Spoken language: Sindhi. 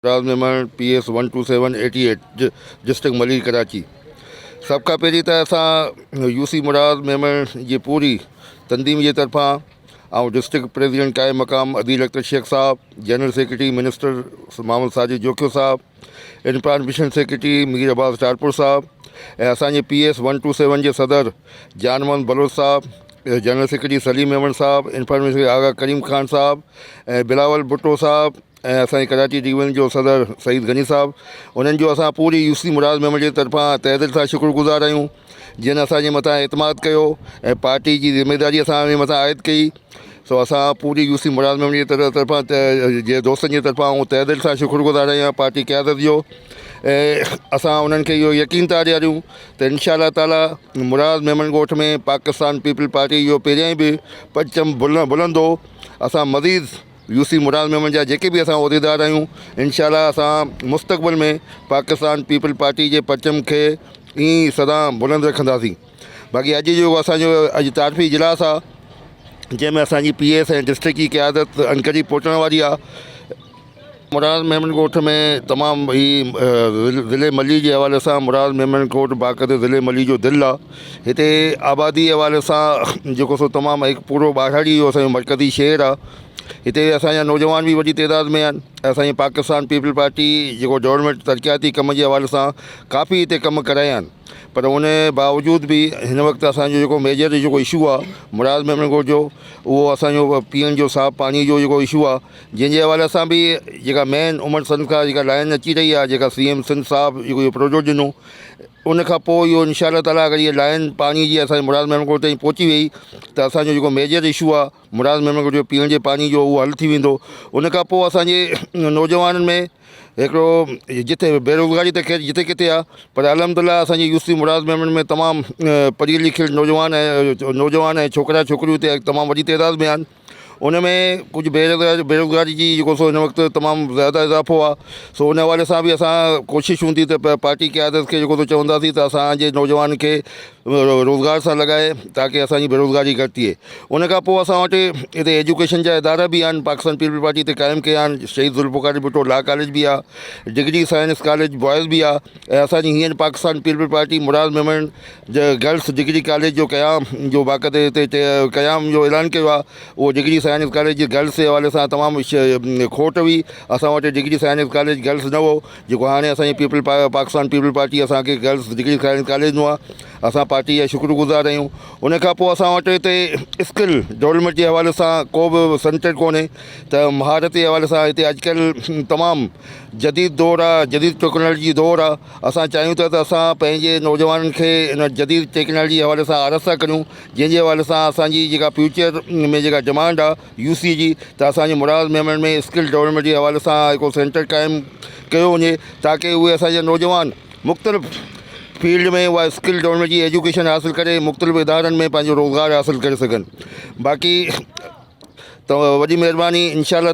راز Memon P S one two seven eighty eight district Malir Karachi سڀ کان پهرين ته اسان يو سي مراز ميمڻ جي پوري تنظيم جي طرفان ۽ ڊسٽرڪٽ پريزيڊنٽ قائم مقام عديل اختر شيخ صاحب general secretary minister Muhammad Sajid Jokhio صاحب انفران مشن سيڪريٽري مير عباس ٽالپور صاحب ۽ اسان جي P S one two seven جي صدر جان محمد بلوچ صاحب جنرل سيڪريٽري سليم ميمڻ صاحب انفران مشن آغا ڪريم خان صاحب ۽ بلاول ڀٽو صاحب ۽ اسان جي ڪراچي ڊويزن جو صدر سعيد غني صاحب انهن جو اسان پوري يوسي مراد ميمبر جي طرفان تهه دل سان شڪر گذار آهيون جن اسان جي مٿان اعتماد ڪيو ۽ پارٽي جي ذميداري اسان جي مٿان عائد ڪئي سو اسان پوري يوسي مراد ميمبر جي طرفان جي دوستن جي طرفان آئون تهه دل سان شڪر گذار آهيان پارٽي قيادت جو ۽ اسان انهن کي اهو يقين ٿا ڏياريون ته انشاء الله تعالي مراد ميمڻ ڳوٺ ۾ پاڪستان پيپلز پارٽي جو پهريائين به پرچم بلندو اسان مزيد يو سي مراد ميمڻ جا جيڪي به اسان عهديدار آهيون انشاء الله اسان مستقبل ۾ پاڪستان پيپلز پارٽي جي پرچم کي ائين ئي سدا بلند رکنداسين باقي اڄ جو اسانجو اڄ تعارفي اجلاس آهي جنهن ۾ اسانجي پي ايس ۽ ڊسٽرڪٽ جي قيادت انڪري پهچڻ واري آهي مراد ميمڻ ڳوٺ ۾ تمام هي ضلعي ملي جي حوالي سان مراد ميمڻ ڳوٺ باقاعده ضلعي ملي جو دل آهي هتي آبادي حوالي سان جيڪو سو تمام هڪ پورو ٻاڙهڙي جو اسان جو مرڪزي شهر آ هتي اسان جا نوجوان به وڏي تعداد ۾ آهن اسان جي پاڪستان پيپلز پارٽي جيڪو گورمينٽ ترقياتي ڪم جي حوالي سان ڪافي هتي ڪم ڪرايا آهن پر ان جي باوجود به هن وقت اسان جو جيڪو ميجر جيڪو اشو آ مراد محمد ڳوٺ جو اهو اسان جو پيئڻ جو صاف پاڻي جو جيڪو اشو آ جنهن جي حوالي سان به جيڪا مين عمر سنڌ کان جيڪا لائن اچي رهي آ جيڪا سي ايم سنڌ صاحب جيڪو اهو پروجيڪٽ ڏنو ان کان پوء اهو انشاء الله تعاليٰ اگر هيء لائين پاڻي جي اسان جي مراد محمد ڳوٺ تائين پهچي وئي ته اسان جو جيڪو ميجر اشو آهي مراد محمد ڳوٺ جو پيئڻ جي پاڻي جو اهو حل ٿي ويندو ان کان پوء اسان جي نوجوانن ۾ هڪڙو جتي بيروزگاري ته خير جتي ڪٿي آهي پر الحمد الله اسان جي يوسف مراد محمد ۾ تمام پڙهيل لکيل نوجوان ۽ نوجوان ۽ ڇوڪرا ڇوڪريون اتي تمام وڏي تعداد ۾ آهن ان ۾ ڪجهه بيروزگاري بيروزگاري جي جيڪو سو هن وقت تمام زياده اضافو آهي سو ان حوالي سان به اسان ڪوشش هوندي ته پ پارٽي قيادت کي جيڪو سو چونداسين ته اسانجي نوجوان کي روزگار سان لڳائي تاڪي اسانجي بيروزگاري گهٽ ٿئي ان کان پوء اسان وٽ هتي ايجوڪيشن جا ادارا به آهن پاڪستان پيپلز پارٽي هتي قائم ڪيا آهن شهيد ذوالفقار علي ڀٽو لا ڪاليج به آهي ڊگري سائنس ڪاليج بوائز به آهي ۽ اسان جي هينئر پاڪستان پيپلز پارٽي مراد ميمڻ جي گرلس ڊگري ڪاليج جو قيام جو باقاعدي هتي قيام جو اعلان ڪيو آهي اهو ڊگري سائنس ڪاليج جي گرلس جي حوالي سان تمام کوٽ هئي اسان وٽ ڊگري سائنس ڪاليج گرلس نه هو جيڪو هاڻي اسان جي پيپل پاڪستان پيپلز پارٽي اسان کي گرلس ڊگري سائنس ڪاليج ڏنو آهي اسان پارٽي جا شڪر گذار آهيون ان کان پوء اسان وٽ هتي اسڪل ڊولپمينٽ جي حوالي سان ڪو به سينٽر ڪونهي ته مهارت جي حوالي سان هتي اڄ ڪلهه تمام جديد دور آ جديد ٽيڪنالجي دور آ اسان چاهيون ٿا ته اسان پنهنجي نوجوانن کي ان جديد ٽيڪنالجي حوالي سان آراسته ڪريون جنهن جي حوالي سان اسان جي جيڪا فيوچر ۾ جيڪا ڊمانڊ آ يو سي جي ته اسان جي مراد ميمڻ ۾ اسڪل ڊولپمينٽ جي حوالي سان هڪڙو سينٽر قائم ڪيو وڃي تاڪه اهي اسان جا نوجوان مختلف فيلڊ ۾ اها اسڪل ڊولپمينٽ جي ايجوڪيشن حاصل ڪري مختلف ادارن ۾ پنهنجو روزگار حاصل ڪري سگهن باقي ته وڏي مهرباني انشاء الله